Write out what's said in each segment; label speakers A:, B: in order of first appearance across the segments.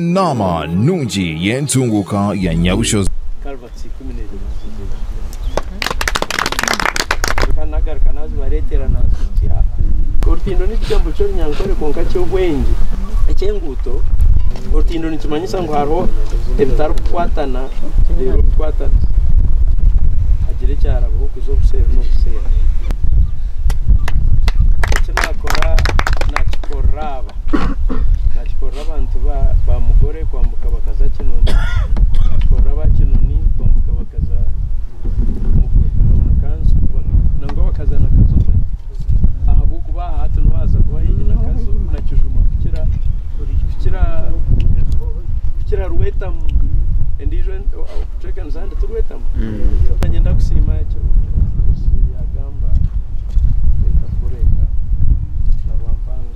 A: Naama nungi y'entunguuka ya Nyabushozi. Orutindo n'ekigambo ky'Orunyankore kwonka ky'obwengye eky'enguuto. Orutindo nikimanyisa ngu hariho ebitarikukwatana reero bikwatane hagire ekyarabaho kuza obuseeri n'obuseeri. Eki naakora naakikorera aba. Naakikorera abantu ba ba mugore kwambuka bakaza Kinoni. Naakikorera aba Kinoni kwambuka bakaza mugore na mukanzu nangwa bakaza na kazo omwe. Ahabw'okuba aha hati niho waaza kuba haihi na kazo na kijuma kukira kukira kukira rwetamu endiijo en- o- o- kucwekanisa ahandi ti rwetamu. Nanye ndakusiima ekyo Nkusi yaagamba. Reka tugume eka na Rwampanga.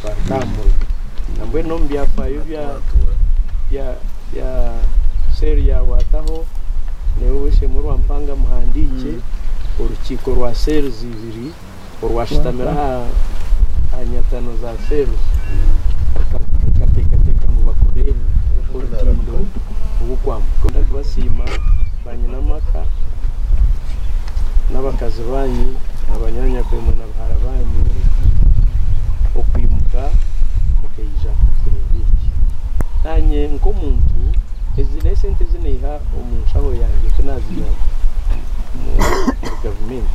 A: Twareka aha murimo. Nambwenu omu byafaayo bya bya bya cell ya Wataho, nyowe Ow'eishe-emwe Rwampanga mpandiikye orukiiko rwa cells ibiri orwashutamire aha aha nyatano za cells ruka- rukateekateeka ngu bakore orutindo rw'okwambuka. Ndabasiima. Banyina amaka n'abakazi banyu na banyaanyakwemwe na bahara banyu okwimuka mukaija kureeba eki. Naanye nk'omuntu, ezi n'esente ezi naiha omu nshaho yangye ku naaziiha omuri gavumenti.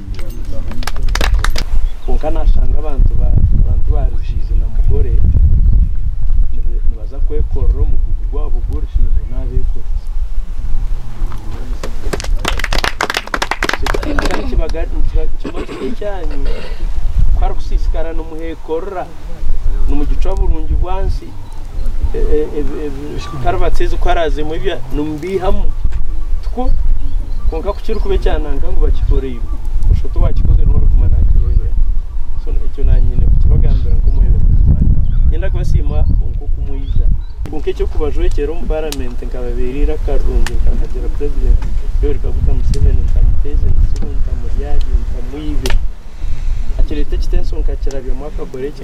A: Kwonka nashanga abantu ba Rugiizi na Mugore nibaza kwekorera omugugu gwabo gw'orushindo n'abekorizi. ezikarabati ezi ku araazemu ebya nimubiihamu tikwo kwonka ku kirikuba ekyananka ngu bakikoreire busha oti owaakikozire niwe orikuguma naakireebera so ekyo naanye nyine kukibagambira nk'omwebembezi waabo niinyenda kubasiima kwonka oku mwija kwonka eky'okubajwekyera omu paramenti nkababeera eiraka rirungi nkahagira purezidenti Yoweri Kaguta Museveni ntamuteeza ebitsibu ntamuryarya ntamwibe akireeta ekitensyo nkakirabyamu akakora eki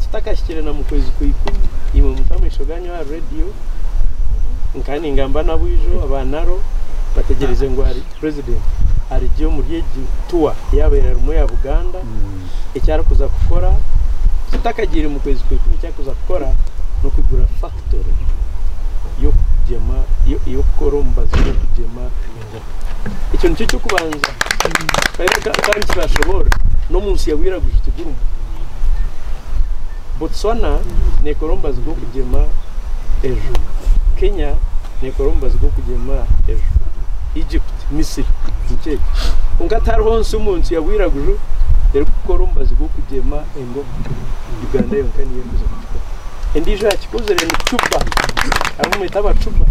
A: Tutakahikire na mu kwezi kwa ikumi, imwe muta amaisho ganyu ahari radio, nkaba ningamba n'abwijo aba Naro bategyereize ngu hari president arigye omuri egi tour yabaire arimu eya Buganda, eki arikuza kukora tutakagyeire mu kwezi kwa ikumi eki arikuza kukora n'okwigura factory y'okugyema y'okukora omubazi gw'okugyema engano. Ekyo nikyo ky'okubanza kandi kiraashoboorora n'omu nsi ya bwiraguju tigurumu. Botswana neekora omubazi gw'okugyema ejo. Kenya neekora omubazi gw'okugyema ejo. Egypt, Misri nikyo ekyo. Kwonka tihariho nsi omu nsi ya bwiraguju erikukora omubazi gw'okugyema ejo. ngu Uganda yonka niyo erikuza kukikora. Endiijo yaakikozire ni Cuban, hariho omu mwete Abacuban,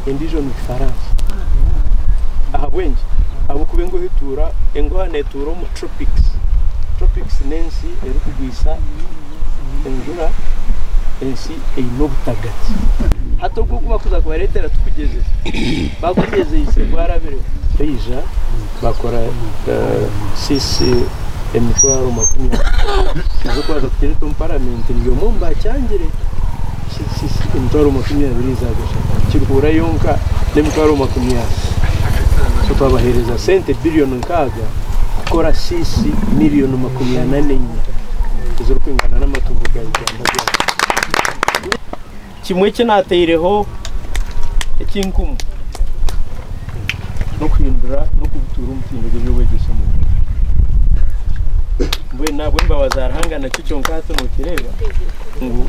A: endiijo ni Rufaransa. Ahabw'enki? Ahabw'okuba enguha etuura, enguha neetuura omu Tropics. Tropics n'ensi erikugwisa enjura, ensi eine obutagati. Hati ogu ogu barikuza kubareetera tikugyezesa, baagugyezeise gwarabiremu. Taija bakora seats emitwaro makumi abiri ez'okubanza kuteretwamu paramenti ndi omwe omu baakyangire seats emitwaro makumi abiri za Gashaka kirikuhura yonka n'emitwaro makumi ana so twabaheereza sente biriyoni nkaaga kukora seats miriyoni makumi ana n'enya ezirikwingana n'amatungo ga Uganda byona. Kimwe eki naataireho ekinkumu n'okuhindura n'okubutuura omutindo gw'eby'obwegyese omu Uganda. Mbwenu ahabw'embabazi za Ruhanga nakyo kyonka hati nookireeba ngu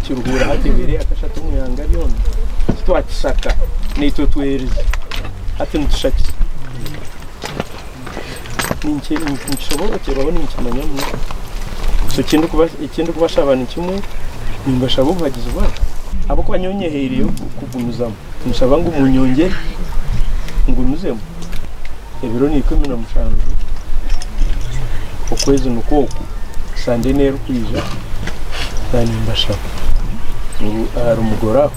A: Kiruhura hati ebaire yaakashata omu ihanga ryona titwakishaka naitwe tweerize hati nitushakisa. ninkishoboorokyerwaho ninkimanya ngu ekindikubashaba nikimwe, nimbashaba obuhagizi bwanyu ahabw'okuba nyowe nyehaireyo kugumizamu. Ninshaba ngu munyongyere ngumizemu ebiro naikumi na mushanju okwezi nikwo oku, sande neerikwija, naanye nimbashaba ngu ahari mugoroba.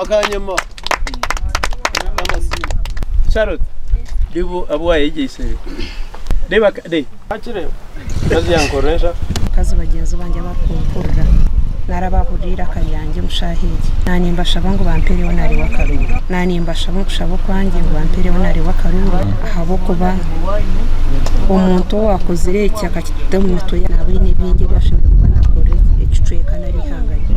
A: akanyima k'amasimu charoti bibu abu wayegyeisire reba kade akireba kazi yankorresha abakazi bagyenzi bangye abarikumpurira nari abahurira eiraka ryangye omu shaaha egi naanye nibashaba ngu bampereho nari w'akaruuru naanye nimbashaba omu kushaba okwangye ngu bampereho nari w'akaruuru ahabw'okuba omuntu owaakozire eki akakita omu mitwe yaabo aine bingi ebi ashemereire kuba naakorera ekicweka nari eihanga rye.